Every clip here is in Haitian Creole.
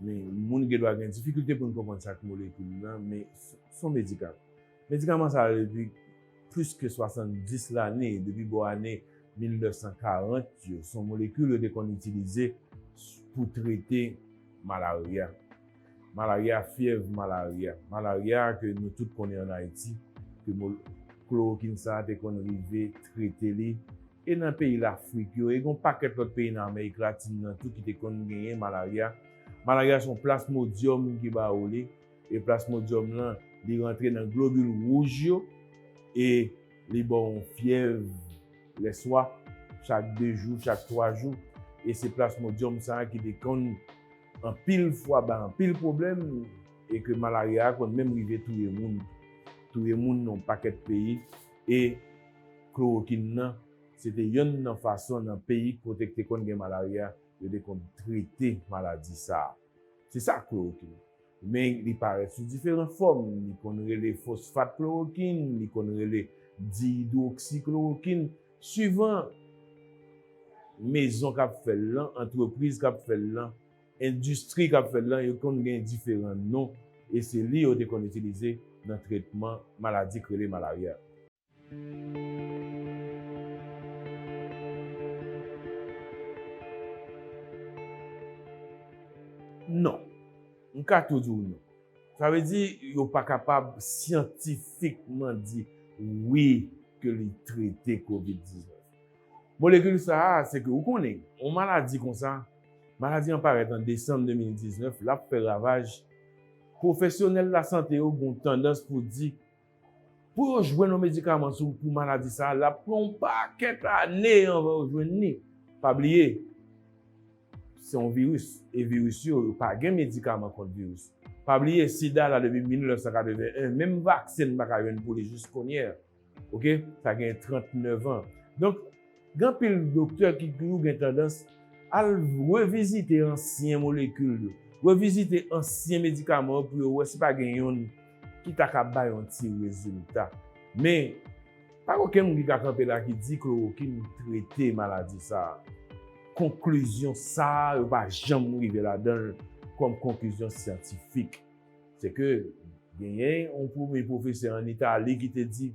Men, moun gendwa gen difikilte pou n konprann sa k molekil nan, men s on medikaman. Medikaman sa yo depi plis ke 70 lane, depi bò ane 1940 yo, s on molekil yo te konn itilize pou trete malarya. Malarya, fyèv malarya. Malarya a ke nou tout konnen an Ayiti, ke klorokin sa a te konn rive trete li. E nan peyi Lafrik yo, e gen yon pakèt lòt peyi nan Amerik Latin nan tou ki te konn genyen malarya. Malarya se yon plasmodyòm ki ba ou li. E plasmodyòm lan, li rantre nan globil wouj yo e li ba w yon fyèv lèswa chak de jou, chak twa jou. E se plasmodyòm sa a ki te konn anpil fwa bay anpil pwoblèm e ke malarya a konn menm rive touye moun. Touye moun nan yon pakèt peyi e. Klorokin nan se te yonn nan fason nan peyi kote k te konn gen malarya yo te konn trete maladi sa a. Se sa klorokin. Men li parèt sou diferan fòm, li konn rele fosfat klorokin, li konn rele diyidwoksi klorokin, suivan mezon k ap fè l lan, antrepriz k ap fè l lan, endistri k ap fè l lan, yo konn gen diferan non e se li yo te konn itilize nan tretman maladi k rele malarya. Non. M ka tou di w non. Sa vle di yo pa kapab syantifikman di wi ke li trete covid 19. Molekil sa a, se ke ou konnen, yon maladi konsa, maladi an parèt an desanm 2019, l ap fè ravaj, pwofesyonèl lasante yo gen yon tandans pou di, Pou yo jwenn yon medikaman sou pou maladi sa a, l ap pran yon pakèt ane anvan yo jwenn li. Pa bliye, se yon viris, e viris yo, yo pa gen medikaman kont viris. Pa bliye, sida la depi 1981, menm vaksen n pa ka jwenn pou li jiskounye a. Ok, sa gen 39 an. Donk. Gen anpil doktè ki toujou gen tandans al revizite ansyen molekil yo, revizite ansyen medikaman yo pou yo wè si pa gen yonn ki ta ka bay yon ti rezilta. Men, pa gen okenn moun ki ka kanpe la ki di klorokin trete maladi sa a. Konklizyon sa a yo pa janm rive ladan l kòm konklizyon syantifik. Sèke genyen yon premye pwofesè ann Itali ki te di,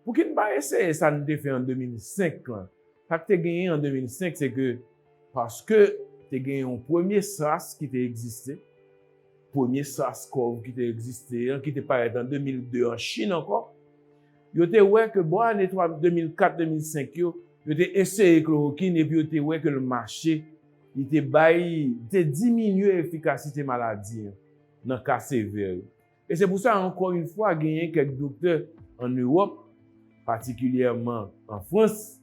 Pouki n pa eseye sa n te fè an 2005 lan? Sa k te genyen an 2005 se ke paske te gen yon premye sas ki te egziste, premye sas kòv ki te egziste an, ki te parèt an 2002 an Chin ankò, yo te wè ke bò ane 2004, 2005 yo, yo te eseye klorokin epi yo te wè ke l mache, li te bay, li te diminye efikasite maladi an nan ka sevè yo. E se pou sa, ankò yon fwa, genyen kèk doktè ann Ewòp, patikilyèman an Frans,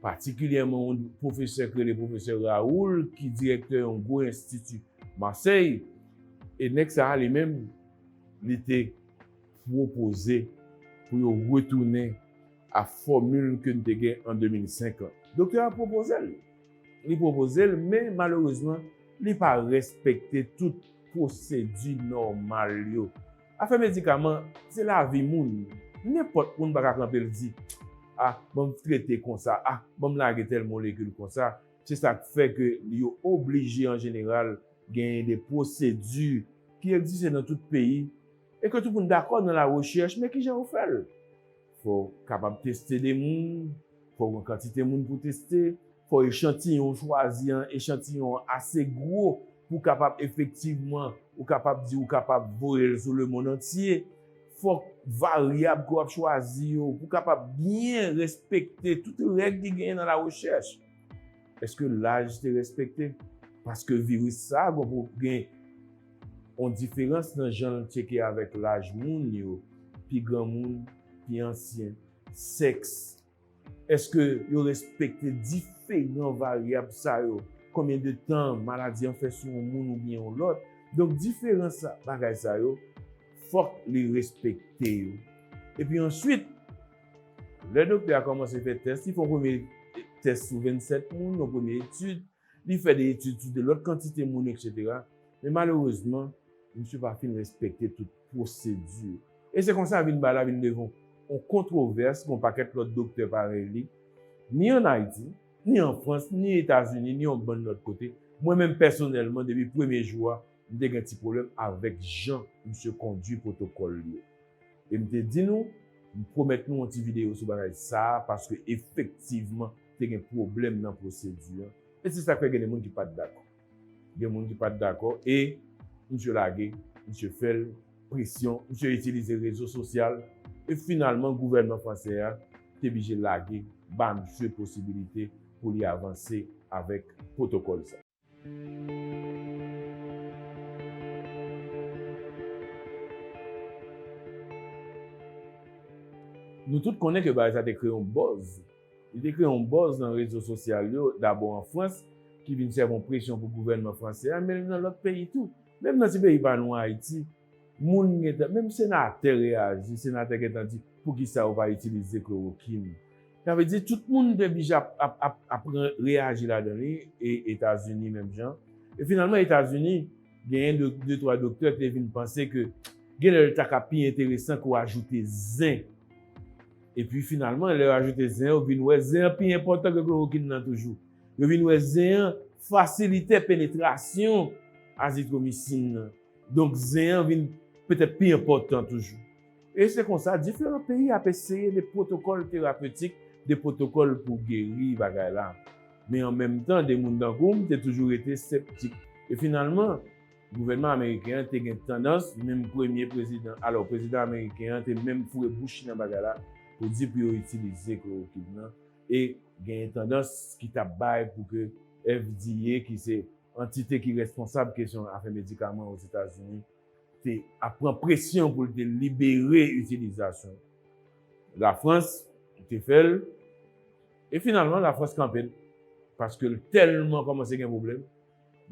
patikilyèman yon pwofesè k rele pwofesè Raoul ki dirèktè yon gwo enstiti Masèy, e nèg sa a li menm li te pwopoze pou yo retounen a fòmil ke n te gen an 2005 lan. Doktè a pwopoze l. li pwopoze l men malerezman li pa respekte tout pwosedi nòmal yo. Afè medikaman se lavi moun, nenpòt moun pa ka kanpe l di a ban m trete konsa, a ban m lage tèl molekil konsa, se sa k fè ke yo oblije an jeneral genyen de pwosedi ki egziste nan tout peyi e ke tout moun dakò nan larechèch men kijan yo fè l. Fò w kapab teste 2 moun, fò w gen yon kantite moun pou w teste, fò echantiyon w chwazi an, echantiyon an ase gwo pou w kapab efektivman ou kapab di ou kapab voye l sou lemonn antye, fòk varyab ke w ap chwazi yo pou w kapab byen respekte tout règ ki genyen nan larechèch. Eske laj te respekte? Paske viris sa gen yon diferans nan jan l tyeke avèk laj moun yo, pi granmoun, pi ansyen, sèks. Eske yo respekte diferan varyab sa yo, konbyen de tan maladi an fè sou yon moun oubyen yon lòt. Donk diferan bagay sa yo fòk li respekte yo. Epi answit. Lè doktè a kòmanse fè tès, li fè yon premye tès sou 27 moun, yon premye etid, li fè 2 etid sou 2 lòt kantite moun eksetera. Men malerezman, misye pa fin respekte tout pwosedi. E se konsa vin bagay la vin devan yon kontwovès pou yon pakèt lòt doktè parèy li, ni an Ayiti, ni an Frans, ni Etazini, ni yon bann lòt kote. Mwen menm pèsonèlman depi premye jou a, m te gen ti pwoblèm avèk jan misye kondui pwotokòl li yo. E m te di nou, m pwomèt nou yon ti videyo sou bagay sa a paske efektivman te gen pwoblèm nan pwosedi an e se sa k fè gen de moun ki pa t dakò. Gen moun ki pa t dakò e misye lage, misye fè l, presyon, misye itilize rezo sosyal e finalman gouvènman fransè a te blije lage ba misye posibilite pou li avanse avèk pwotokòl sa. Nou tout konnen ke bagay sa te kreye yon bòz. Li te kreye yon bòz nan rezo sosyal yo, dabò an Frans, ki vin sèvi yon presyon pou gouvènman fransè a, men nan lòt peyi tou. Menm nan ti peyi pa nou an, Ayiti, Moun gentan, menm senatè reyaji, senatè gentan di poukisa yo pa itilize klorokin. Sa vle di tout moun te bije ap reyaji ladan li e Etazini menm jan. E finalman Etazini genyen de twa doktè te vin panse ke genlè li ta ka pi enteresan ke w ajoute zen. E pi finalman lè yo ajoute zen yo vin wè zen an pi enpòtan ke klorokin nan toujou. Yo vin wè zen an fasilitè penetrasyon azitromisin nan. Donk zen an vin petèt pi enpòtan toujou. E se konsa diferan peyi ap eseye de pwotokòl terapetik, de pwotokòl pou geri bagay la. Men an menm tan de moun tankou m te toujou rete septik. E finalman, gouvènman ameriken an te gen tandans, menm premye prezidan, alò prezidan ameriken an te menm foure bouch li nan bagay la pou di pou yo itilize klorokin nan e genyen tandans ki t ap bay pou ke FDA ki se Antite ki responsab kesyon afè medikaman Ozetazini te ap pran presyon pou l te libere itilizasyon Lafrans te fè l e finalman Lafrans kanpe l paske l tèlman kòmanse gen pwoblèm,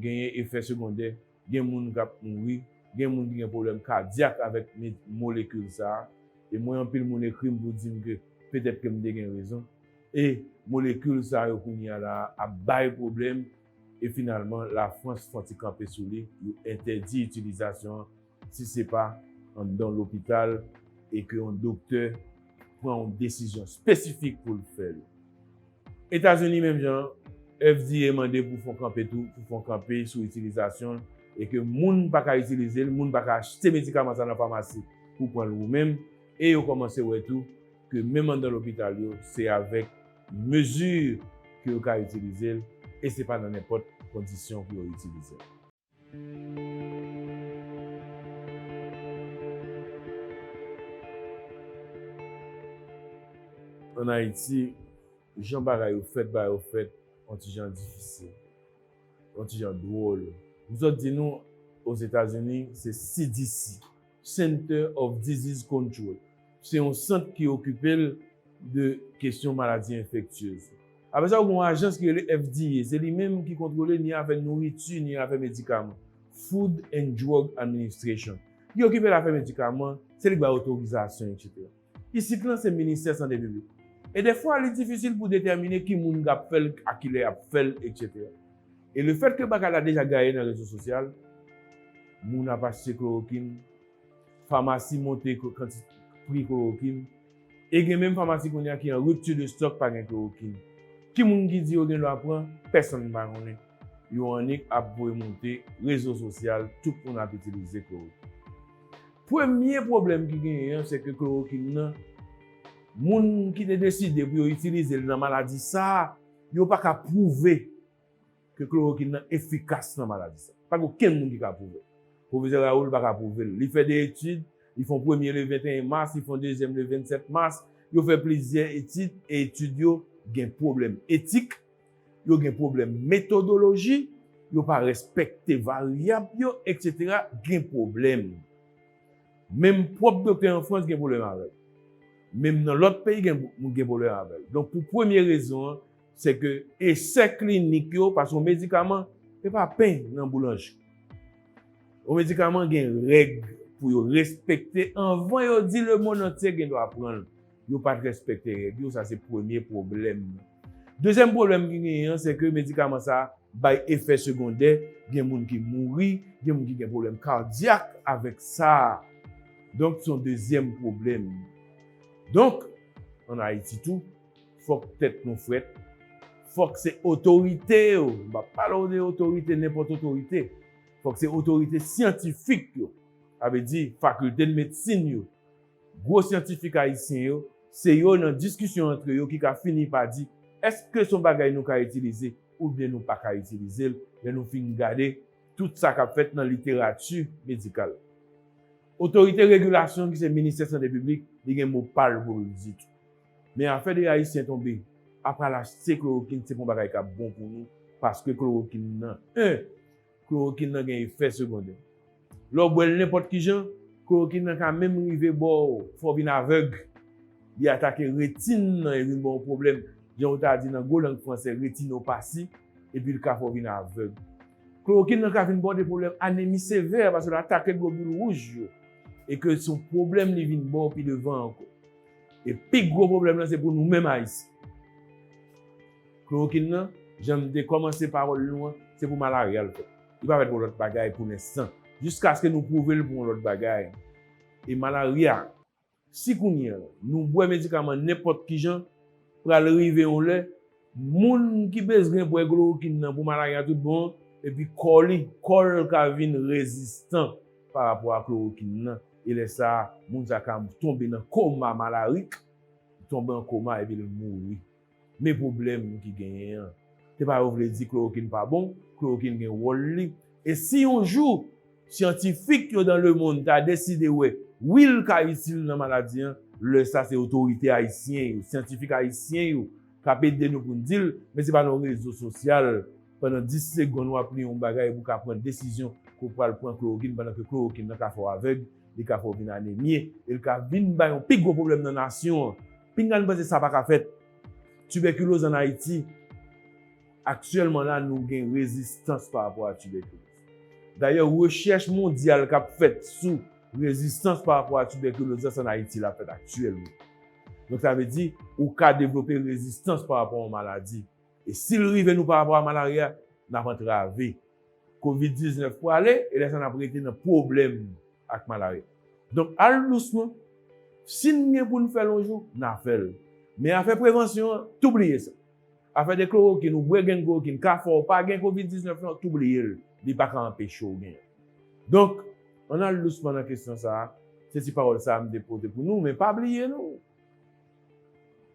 genyen efè segondè, gen moun k ap mouri, gen moun ki gen pwoblèm kadyak avèk molekil sa a e mwen anpil moun ekri m pou di m ke petèt ke m te gen rezon e molekil sa yo kounye a la a ap bay pwoblèm. E finalman la Frans fon ti kanpe sou li, yo entèdi itilizasyon an si se pa anndan lopital e ke yon doktè pran yon desizyon spesifik pou l fè l. Etazini menm jan an, FDA mande pou fon kanpe tou, pou fon kanpe sou itilizasyon l e ke moun pa ka itilize l, moun pa ka achte medikaman sa nan famasi pou pran l ou menm e yo kòmanse wè tou ke menm anndan lopital yo se avèk Mezi ke yo ka itilize l e se pa nan nenpòt kondisyon pou yo itilize l. An Ayiti, jan bagay yo fèt ba yo fèt yon ti jan difisil, yon ti jan dwòl. M sot di nou, Ozetazini, se CDC. Center of Disease Control, se yon sant ki okipe l de kesyon maladi enfektyez. Apre sa, gen yon ajans ki rele FDA, se li menm ki kontwole ni afè nouriti ni afè medikaman, Food and Drug Administration. Li okipe l afè medikaman, se li k bay otorizasyon, eksetera. Isit lan se ministè sante piblik. E defwa li difisil pou detèmine ki moun k ap fè l, a ki lè y ap fè l, etsetera. E lefètke bagay la deja gaye nan rezo sosyal, moun ap achte klorokin, famasi monte pri klorokin, e gen menm famasi kounye a ki an ripti de stòk pa gen klorokin. Ki moun ki di yo gen dwa pran? Pèsonn pa konnen. Yo annik ap voye monte rezo sosyal tout moun ap itilize klorokin. Premye pwoblèm ki genyen an se ke klorokin nan, moun ki te deside pou yo itilize l nan maladi sa a, yo pa ka pwouve ke klorokin nan efikas nan maladi sa a. Pa gen okenn moun ki ka pwouve l. Pwofesè Raoul pa ka pwouve l. Li fè 2 etid, li fè yon premye le 21 mas, li fè yon dezyèm le 27 mas, yo fè plizyè etid e etid yo gen pwoblèm etik, yo gen pwoblèm metodoloji, yo pa respekte varyab yo, eksetera, gen pwoblèm. Menm pwòp doktè an Frans gen pwoblèm avè l. Menm nan lòt peyi gen pwoblèm avè l. Donk pou premye rezon an, se ke esè klinik yo, paske yon medikaman, se pa pen nan boulanjri. Yon medikaman gen règ pou yo respekte anvan yo di lemonnantye gen dwa pran l. Yo pat respekte règ yo, sa se premye pwoblèm. Dezyèm pwoblèm ki genyen an, se ke medikaman sa bay efè segondè, gen moun ki mouri, gen moun ki gen pwoblèm kadyak avèk sa. Donk son dezyèm pwoblèm. Donk, an Ayiti tou, fòk tèt nou frèt, fòk se otorite yo, m pa pale w de otorite, nenpòt otorite, fòk se otorite syantifik yo, sa vle di fakilte medsin yo, Gwo syantifik ayisyen yo, se yo nan diskisyon antre yo ki ka fini pa di èske s on bagay nou ka itilize oubyen nou pa ka itilize l lè nou fin gade tout sa k ap fèt nan literati medikal. Otorite regilasyon ki se Ministè Sante Piblik li gen mo pa l pou l di tou. Men afè 2 ayisyen tonbe ap al achte klorokin se pa on bagay k ap bon pou nou paske klorokin nan 1. Klorokin nan gen efè segondè. Lè w bwè l nenpòt ki jan, klorokin nan ka menm rive ba w fè w vin avèg. Li atake retin nan e vin ba w pwoblèm, jan yo ta di nan gwo lang fransè retinopasi, epi l ka fè w vin avèg. Klorokin nan ka vin ba w de pwoblèm anemi sevè paske l atake globil wouj yo e ke se yon pwoblèm li vin ba w pi devan ankò. E pi gwo pwoblèm lan se pou nou menm Ayisyen. Klorokin nan, jan m te kòmanse pawòl nou an, se pou malarya l fèt. Li pa fèt pou lòt bagay pou lenstan. Jiskaske nou pwouve l pou yon lòt bagay. E malarya, si kounye an, nou bwè medikaman nenpòt ki jan, pral rive yon lè, moun ki bezwen bwè klorokin nan pou malarya tout bon an, epi kò li, kò l ka vin rezistan pa rapò a klorokin nan. E lè sa a, moun sa a ka tonbe nan koma malarik, tonbe an koma epi l mouri. Men pwoblèm ki genyen an. Se pa yo vle di klorokin pa bon, klorokin gen wòl li. E si yon jou syantifik yo dan lemonn ta deside wè wi l ka itil nan maladi an, lè sa se otorite ayisyen yo, syantifik ayisyen yo k ap ede nou pou n di l. Men se pa nan yon rezo sosyal pandan 10 segonn w ap li yon bagay pou w ka pran desizyon ke w pral pran klorokin pandan ke klorokin nan ka fè w avèg, li ka fè w vin anemye e l ka vin bay yon pi gwo pwoblèm nan nasyon an. Pinga n panse sa pa ka fèt. Tibèkiloz an Ayiti, Aktyèlman la nou gen rezistans pa rapò a tibèkiloz. Dayè rechèch mondyal k ap fèt sou rezistans pa rapò a tibèkiloz la se an Ayiti l ap fèt aktyèlman. Donk sa vle di ou ka devlope rezistans pa rapò a yon maladi. E si l rive nou pa rapò a malarya, n ap antrave kovid 19 prale e lè sa n ap rete nan pwoblèm ak malarya. Donk al dousman, si n gen pou n fè l yon jou, n a fè l. Men afè prevansyon an, tou bliye sa. Afè de klorokin ou bwè grenn klorokin ka fè w pa gen kovid 19 lan, tou bliye l, li pa ka anpeche w genyen. Donk, ann al dousman nan kesyon sa a, se ti pawòl sa a m te pote pou nou, men pa bliye nou!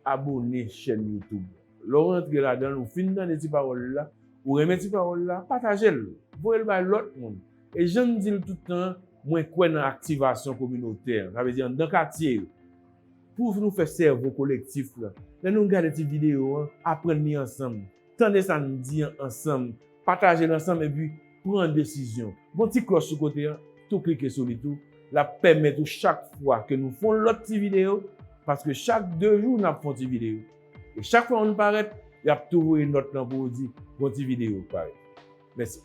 Abone chèn youtube lè w rantre ladan l ou fin tande ti pawòl l la ou renmen ti pawòl la pataje l voye l bay lòt moun e jan m di l tout tan mwen kwè nan aktivasyon kominotè sa vle di anndan katye yo pou nou fè sèvo kolektif la lè nou gade ti videyo an aprann li ansanm Tande sa n di an ansanm, pataje l ansanm epi pran desizyon. Gon ti klòch sou kote an, tou klike sou li tou, l ap pèmèt ou chak fwa ke nou fon lòt ti videyo, paske chak 2 jou n ap fon ti videyo, e chak fwa youn parèt, y ap tou voye nòt lan pou ou di gon ti videyo k parèt. Mèsi.